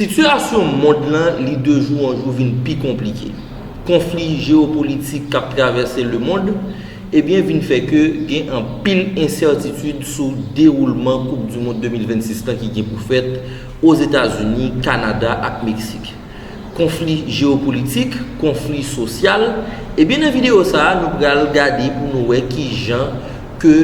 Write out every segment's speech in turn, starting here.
Sitiyasyon mond lan li de jou an jou vin pi konplike. Konfli jeyopolitik k ap travèse lemond ebyen vin fè ke gen anpil ensètitid sou dewoulman koup du mond 2026 lan ki gen pou fèt Ozetazini, Kanada ak Meksik. Konfli jeyopolitik, konfli sosyal, ebyen nan videyo sa a nou pral gade pou nou wè kijan ke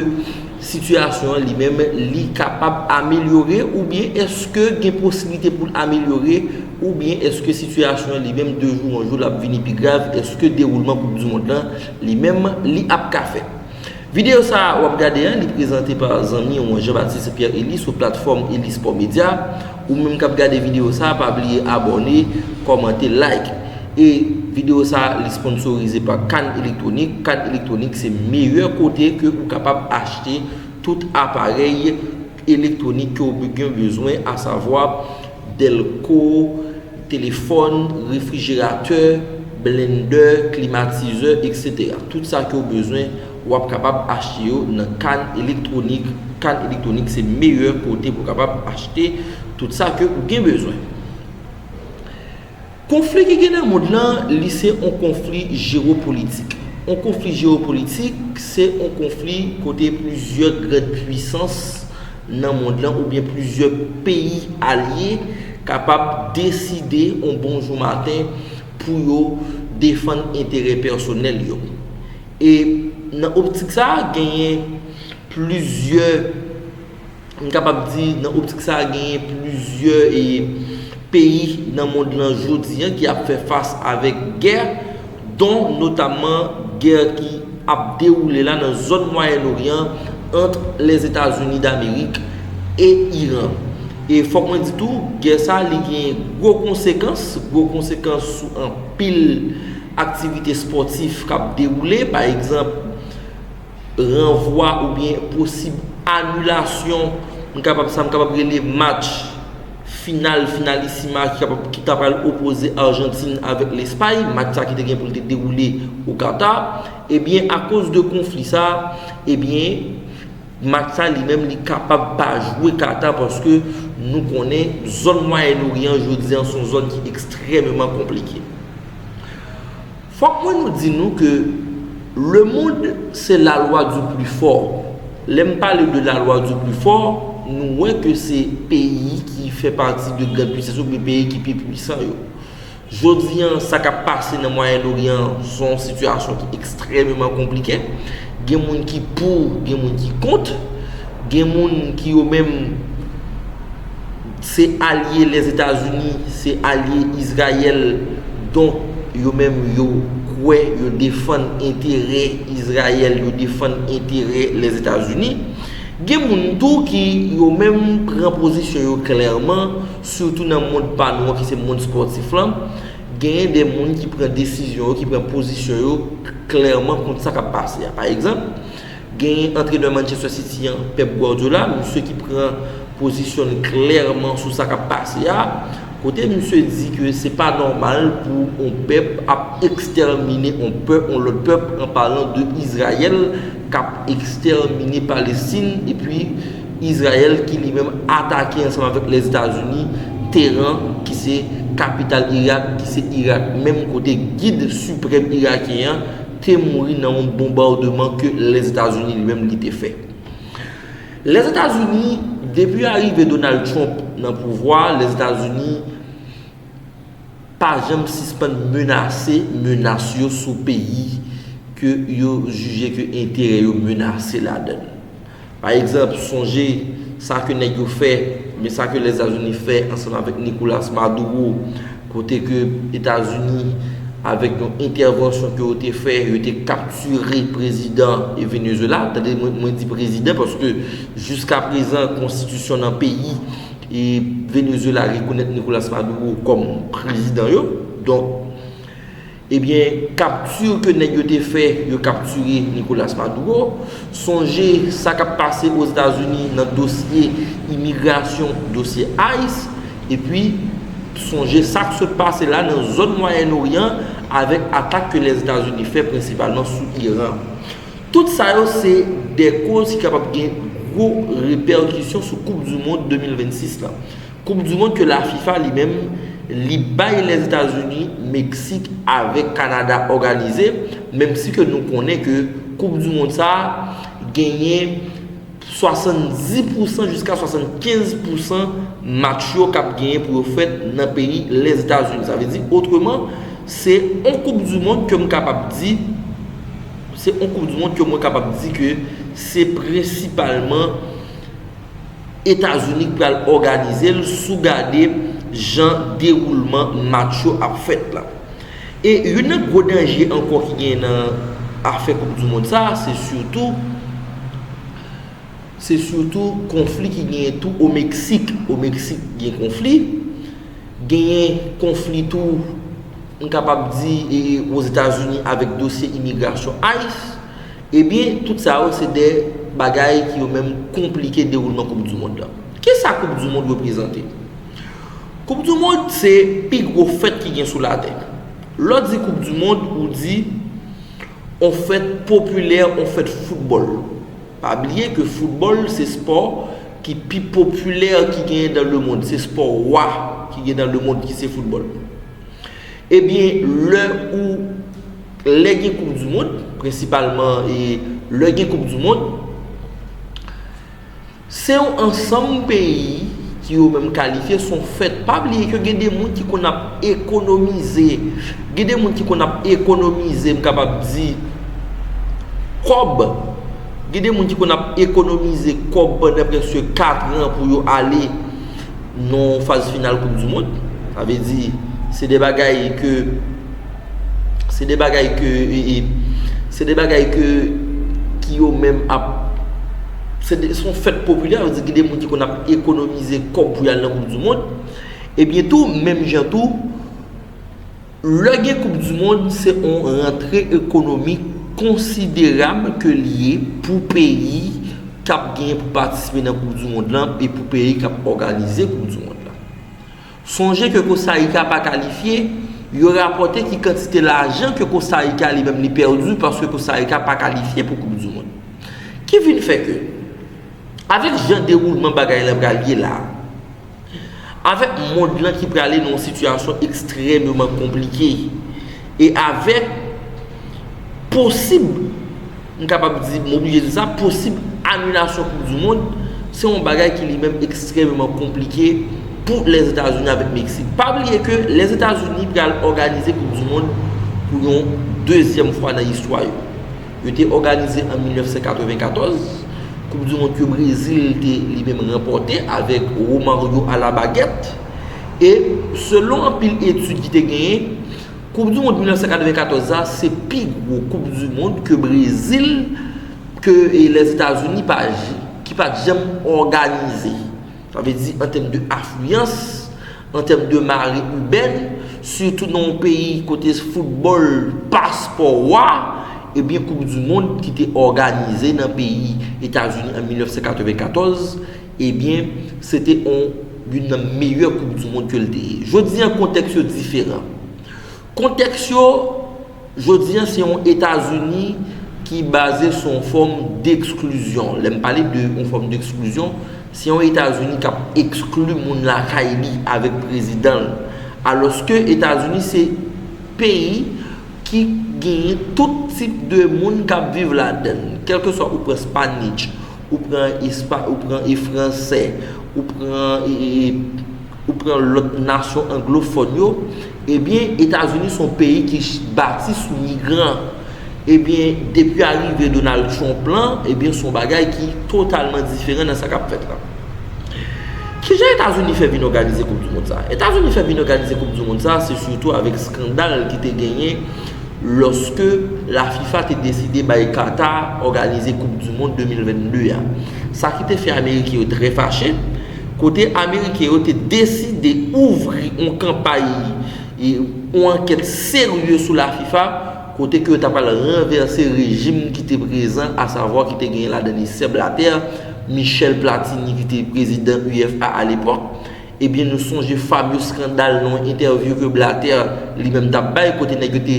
Sitiyasyon an li menm li kapab amelyore oubyen eske gen posiblite pou l amelyore oubyen eske sitiyasyon an li menm de jou an jou l ap vini pi grav eske dewoulman koup du mond lan li menm li ap ka fèt. Videyo sa a w ap gade an li prezante pa zanmi w Jean Baptiste Pierre Elie sou platfòm Elie Sport Media. Ou menm kap gade video sa pa bliye abòne, kòmante, like. E video sa li sponsorize pa Can Electronic. Can Electronic se meyè kote ke ou kapab achte tout aparèy elektronik ke ou gen bezwen a savwa delko, telefòn, refrijeratè, blendè, klimatizè etc. Tout sa ke ou bezwen. Ou ap kapab achte yo nan Cannes Electronic. Cannes Electronic se meyè kote pou kapab achte tout sa ke ou gen bezwen. Konfli ki gen nan mond lan, li se yon konfli jewopolitik. Yon konfli jewopolitik, se yon konfli kote plizyè grand pwisans nan mond lan ou byen plizyè peyi alye kapab deside yon bonjou maten pou yo defann enterè pèsonèl yo. E nan optik sa a genyen plizyè, m kapab di nan optik sa a genyen plizyè e peyi nan mond lan jodi an ki ap fè fas avèk gè, don notamman gè ki ap dewoule la nan zòn Mwayen Oryan ant Lèzetazini Damerik e Iran. E fòk mwen di tou, gè sa li genyen gwo konsekans, gwo konsekans sou anpil. Aktivite spòtif k ap dewoule, pa egzanp, ranvwa oubyen posib anilasyon, m kapab sa m kapab rele match final finalisima ki kapab ki ta pral opoze Arjantin avèk Lespay, match sa ki te gen pou l te dewoule o Kata, ebyen akoz de konfli sa, ebyen. Match sa li menm li kapab pa jwe Qatar paske nou konnen zòn Mwayen Oryan jodi an son zòn ki ekstrememan konplike. Fòk mwen nou di nou ke le mond se la lwa di pli fò. Lè m pale de la lwa di pli fò, nou wè ke se peyi ki fè pati de grand puisans yo oubyen peyi ki pi pwisan yo. Jodi a, sa k ap pase nan Mwayen Oryan an se yon sitiyasyon ki ekstrèmeman konplike. Gen moun ki pou, gen moun ki kont. Gen moun ki yo menm se alye Lèzetazini, se alye Izrayèl. Donk, yo menm yo kwè, yo defann enterè Izrayèl, yo defann enterè Lèzetazini. Gen moun tou ki yo menm pran pozisyon yo klèman. Sitou nan mond pa nou an ki se mond spòtif lan, genyen de moun ki pran desizyon yo, ki pran pozisyon yo klèman kont sa k ap pase a. Pa egzanp, genyen antrenè Manchester City an, Pep Guardiola, misye ki pran pozisyon l klèman sou sa k ap pase a, kote misye di ke se pa nòmal pou on pèp ap ekstèmine on pè, on lòt pèp, an palan de Izrayèl k ap ekstèmine Palestin, epi. Izrayèl ki li menm atake ansanm avèk Lèzetazini Teran ki se kapital Irak ki se Irak menm kote gid siprèm irakyen an te mouri nan yon bonbademan ke Lèzetazini li menm li te fè. Lèzetazini depi arive Donald Trump nan pouvwa a Lèzetazini pa janm sispann menase menas yo sou peyi ke yo jije ke enterè yo menase ladann. Pa egzanp, sonje sa ke nèg yo fè, oubyen sa ke Lèzazini fè ansanm avèk Nicolas Maduro, kote ke Etazini avèk yon entèvansyon ke yo te fè, yo te kaptire prezidan Venezuela, tande mwen di prezidan paske jiska prezan konstitisyon nan peyi Venezuela rekonèt Nicolas Maduro kòm prezidan yo, donk. Ebyen capture ke nèg yo te fè yo capture Nicolas Maduro, sonje sa kap pase o Zeta Zuni nan dosye imigrasyon, dosye ice, epi sonje sak sot pase la nan zòn Mwayen Oryan avèk atak ke lè Zeta Zuni fè prensipalman sou Iran. Tout sa yo se dè koz ki kapab gen gwo repèkisyon sou koup du mond 2026 la. Koup du mond ke la fifa li menm li bay Lèzetazini, Meksik avèk Kanada òganize, menm si ke nou konnen ke koup du mond sa a genyen 70 pousan jiska 75 pousan match yo k ap genyen pou yo fèt nan peyi Lèzetazini. Sa vle di otreman se on koup du mond ke m kapab di se on koup du mond ke mwen kapab di ke se prensipalman Etazini k pral òganize l sou gade jan dewoulman match yo ap fèt la. E youn nan gwo danje ankò ki genyen nan afè koup du mond sa se sitou se sitou konfli ki genyen tou o Meksik. O Meksik gen konfli, genyen konfli tou m kapab di e Ozetazini avèk dosye imigrasyon ice. Ebyen tout sa yo se de bagay ki yo menm konplike dewoulman koup du mond lan. Kisa koup du mond reprezante? Koup du mond se pi gwo fèt ki gen sou latè. Lè w di koup du mond ou di on fèt popilè, on fèt foutbòl. Pa bliye ke foutbòl se spò ki pi popilè ki genyen dan le mond. Se spò wa ki gen dan le mond ki se foutbòl. Ebyen lè ou lè gen koup du mond prensipalman e lè gen koup du mond se yon ansanm peyi ki yo menm kalifye son fèt pa bliye ke gen de moun ki konn ap ekonomize gen de moun ki konn ap ekonomize m kapab di kòb gen de moun ki konn ap ekonomize kòb pandan preske 4 an pou yo ale nan yon faz final koup du mond sa vle di se de bagay ke se de bagay ke se de bagay ke ki yo menm ap se de son fèt popilè yo di ki de moun ki konn ap ekonomize kòb pou yal nan koup du mond e byen tou menm jan tou Lè gen koup du mond se on rantre ekonomik konsiderab ke li ye pou peyi kap gen pou patisipe nan koup du mond lan e pou peyi kap òganize koup du mond lan. Sonje ke Kosarika pa kalifye, yo rapòte ki kantite lajan ke Kosarika li menm li pèdu paske Kosarika pa kalifye pou koup du mond. Ki vin fè ke avèk jan dewoulman bagay lan pral ye la, Avèk mond lan ki prale nan yon sitiyasyon ekstrèmeman konplike, e avèk posib, m kapab di, m oblije di sa, posib anilasyon koup di mond, se yon bagay ki li menm ekstrèmeman konplike pou Lèzetazini avèk Meksik. Pa bliye ke Lèzetazini pral òganize koup di mond pou yon dezyèm fwa nan istwa yo. Yo te òganize an 1994, koup du mond ke Brezil te li menm ranpòte avèk Romario a la bagèt. E selon anpil etid ki te genyen, koup du mond 1994 la se pi gwo koup du mond ke Brezil ke Lèzetazini pa ki pat janm òganize. Sa vle di an tèm de afliyans, an tèm de mare ibèn, sitou nan yon peyi kote foutbòl pa spò wa, ebyen koup di mond ki te òganize nan peyi Etazini an 1994, ebyen se te yon nan meyè koup di mond ke l te ye. Jodi an kontèks yo diferan. Kontèks yo, Jodi an se yon Etazini ki baze sou yon fòm deksklizyon. Lè m pale de yon fòm deksklizyon, se yon Etazini k ap ekskli moun lakay li avèk prezidan l. Alòske Etazini se peyi ki genyen tout tip de moun k ap viv ladan l. Kèlkeswa ou pran Spanish, ou pran espa, ou pran e franse, ou pran e, ou pran lòt nasyon anglofòn yo, ebyen Etazini son peyi ki bati sou migran. Ebyen depi arive Donald Trump lan, ebyen son bagay ki totalman diferan nan sa kap fèt la. Kijan Etazini fè vin òganize koup du mond sa? Etazini fè vin òganize koup du mond sa se sitou avèk skandal ki te genyen lòske la fifa te deside bay Qatar òganize koup du mond 2022 a, sa ki te fè ameriken yo trè fache, kote ameriken yo te deside ouvri on kanpay e on ankèt serye sou la fifa kote ke yo ta pral ranvèse rejim ki te prezan asavwa ki te genyen ladan li Sèb Latè, Michel Platini ki te prezidan UFA alepòk. Ebyen nou sonje fameux scandal nan yon entèvyou ke Blatter li menm tap bay kote nèg yo te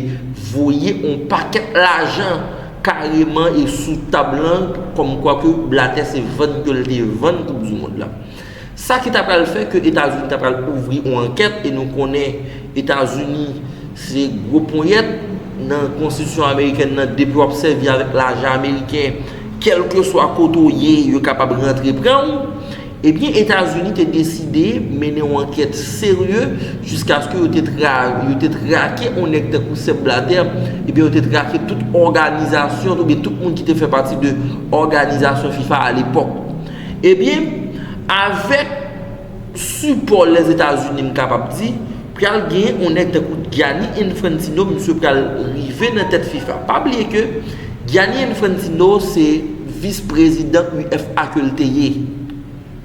voye yon pakèt lajan kareman e sou tab lan kòm kwa ke Blatter se vann ke l te vann koup du mond la. Sa ki ta pral fè ke Etazini ta pral ouvri yon ankèt e nou konnen Etazini se gwo ponyèt nan konstitisyon amerikèn nan depi w ap sèvi avèk lajan ameriken kèlkeswa kote w ye yo kapab rantre pran w. Ebyen Etazini te deside mennen yon ankèt serye jiskaske yo te yo te trake yon nèg tankou Sèb Blatè, ebyen yo te trake tout òganizasyon oubyen tout moun ki te fè pati de òganizasyon fifa alepòk. Ebyen avèk sipò Lèzetazini m kapab di, Pral gen yon nèg tankou Gianni Infantino misye pral rive nan tèt fifa. Pa bliye ke Gianni Infantino se vis prezidan UFA ke l te ye.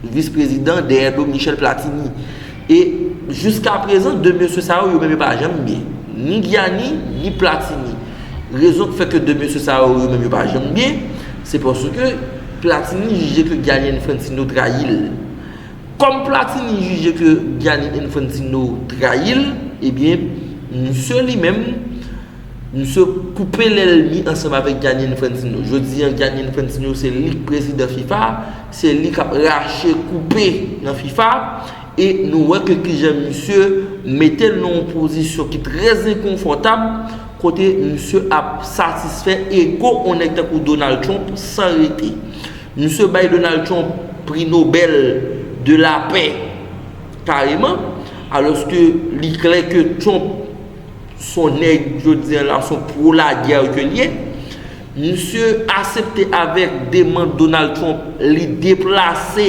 Vis prezidan dèyè do Michel Platini. E jiska prezan 2 mesye sa yo yo menm yo pa janm byen. Ni Gianni ni Platini. Rezon ki fè ke 2 mesye sa yo yo menm yo pa janm byen se paske Platini jije ke Gianni Infantino trayi l. Kòm Platini jije ke Gianni Infantino trayi l, ebyen, misye li menm, misye koupe lèlmi ansanm avèk Gianni Infantino. Jodi an, Gianni Infantino se li k prezidan fifa, se li k ap rache, koupe nan fifa, e nou wè ke kijan misye mete l nan yon pozisyon ki trè enkonfòtab, kote misye ap satisfè ego yon nèg tankou Donald Trump san rete. Misye bay Donald Trump Pri Nobèl de Lapè kareman, alòske li klè ke Trump s on nèg jodi an la, s on pro-lagè ke l ye. Misye asepte avèk demand Donald Trump, li deplase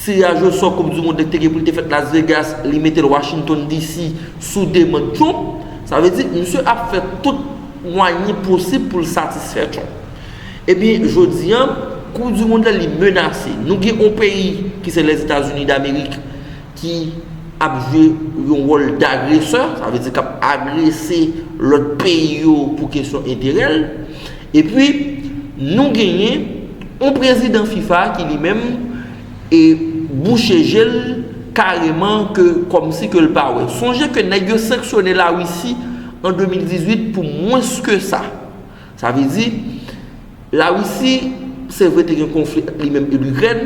tiraj o sò koup di mond la ki te gen pou l te fèt Las Vegas, li mete l Washington DC sou demand Trump. Sa vle di, misye ap fè tout mwayen posib pou l satisfè Trump. Ebyen jodi an koup du mond la li menase. Nou gen yon peyi ki se Lèzetazini Damerik ki ap jwe yon wòl dagresè, sa vle di kap agrese lòt peyi yo pou kesyon enterè l. Epi nou genyen yon prezidan fifa ki li menm e bouche je l kareman ke kòmsi ke l pa wè. Sonje ke nèg yo sanksyone Larisi an 2018 pou mwens ke sa. Sa vle di, La Risi, se vre te gen konfli ant li menm e Likrèn,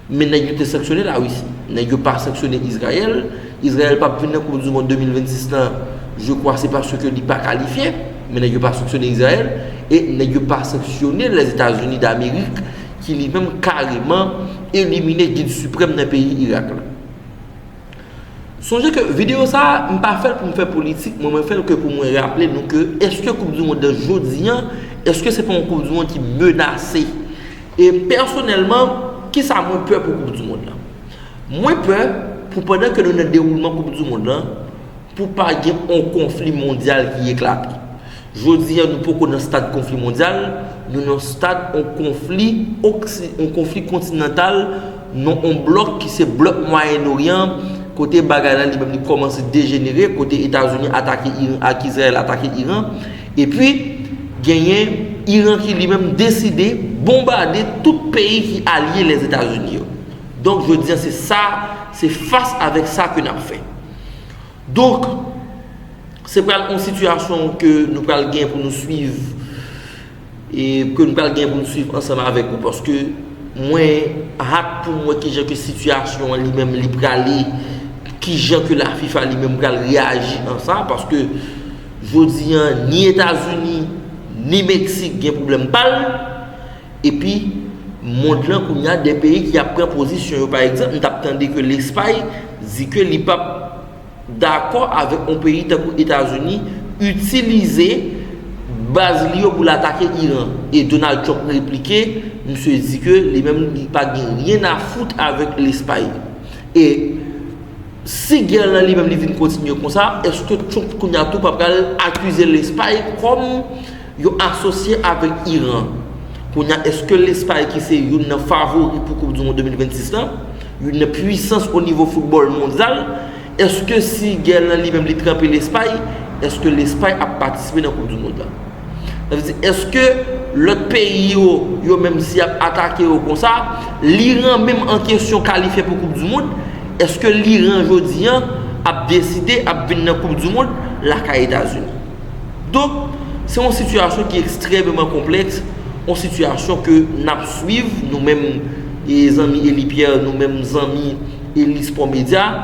men nèg yo te sanksyone La Risi. Nèg yo pa sanksyone Izrayèl. Izrayèl pap vin nan koup di mond 2026 lan, je kwa se paske li pa kalifye, men nèg yo pa sanksyone Izrayèl, e nèg yo pa sanksyone Lèzetazini Damerik ki li menm kareman elimine gid siprèm nan peyi Irak la. Sonje ke video sa a, m pa fèl pou m fè politik mwen, mwen fèl ke pou mwen raple nou ke eske koup du mond nan jodi an, eske se pa yon koup du mond ki menase? E pèsonèlman, kisa mwen pè pou koup du mond lan? Mwen pè pou pandan ke nou nan dewoulman koup du mond lan, pou pa gen yon konfli mondyal ki eklate. Jodi a nou poko nan stad konfli mondyal, nou nan stad on konfli oksi, on konfli kontinantal, nan on blòk ki se blòk Mwayen Oryan an, kote bagay la li menm li kòmanse dejenere, kote Etazini atake Iran ak Izrayèl atake Iran, epi genyen Iran ki li menm deside bonbade tout peyi ki alye Lèzetazini yo. Donk jodi a se sa, se fas avèk sa ke n ap fè. Donk, se pral yon sitiyasyon ke nou pral gen pou nou swiv e ke nou pral gen pou nou swiv ansanm avèk ou paske mwen hat pou mwen wè kijan ke sitiyasyon an li menm li prale, kijan ke la fifa li menm pral reyaji an sa paske jodi an ni Etazini ni Meksik gen pwoblèm pa l. Epi mond lan kounya de peyi ki ap pran pozisyon yo pa egzanp m tap tande ke lespay di ke li pap dakò avèk yon peyi tankou etazini itilize baz li yo pou l atake iran e donald trump replike misye di ke li menm li pa gen ryen a fout avèk lespay e si gè lan li menm li vin kontinye konsa eske trump kounya tou pa pral akize lespay kòm Yo asosye avèk Iran. Kounye a eske Lespay ki se youn nan favori pou koup du mond 2026 la, youn nan pwisans o nivo foutbòl mondyal, eske si gè lan li menm li tranpe Lespay, eske Lespay ap patisipe nan koup du mond la? Sa vle di eske lòt peyi yo, yo menm si y ap atake yo konsa, l'Iran menm an kesyon kalifye pou koup du mond, eske l'Iran jodi an ap deside ap vin nan koup du mond lakay Etazini? Donk, se yon sitiyasyon ki ekstrememan konplèks, yon sitiyasyon ke n ap swiv, nou menm zanmi Elie Pierre, nou menm zanmi Elie Sport Media.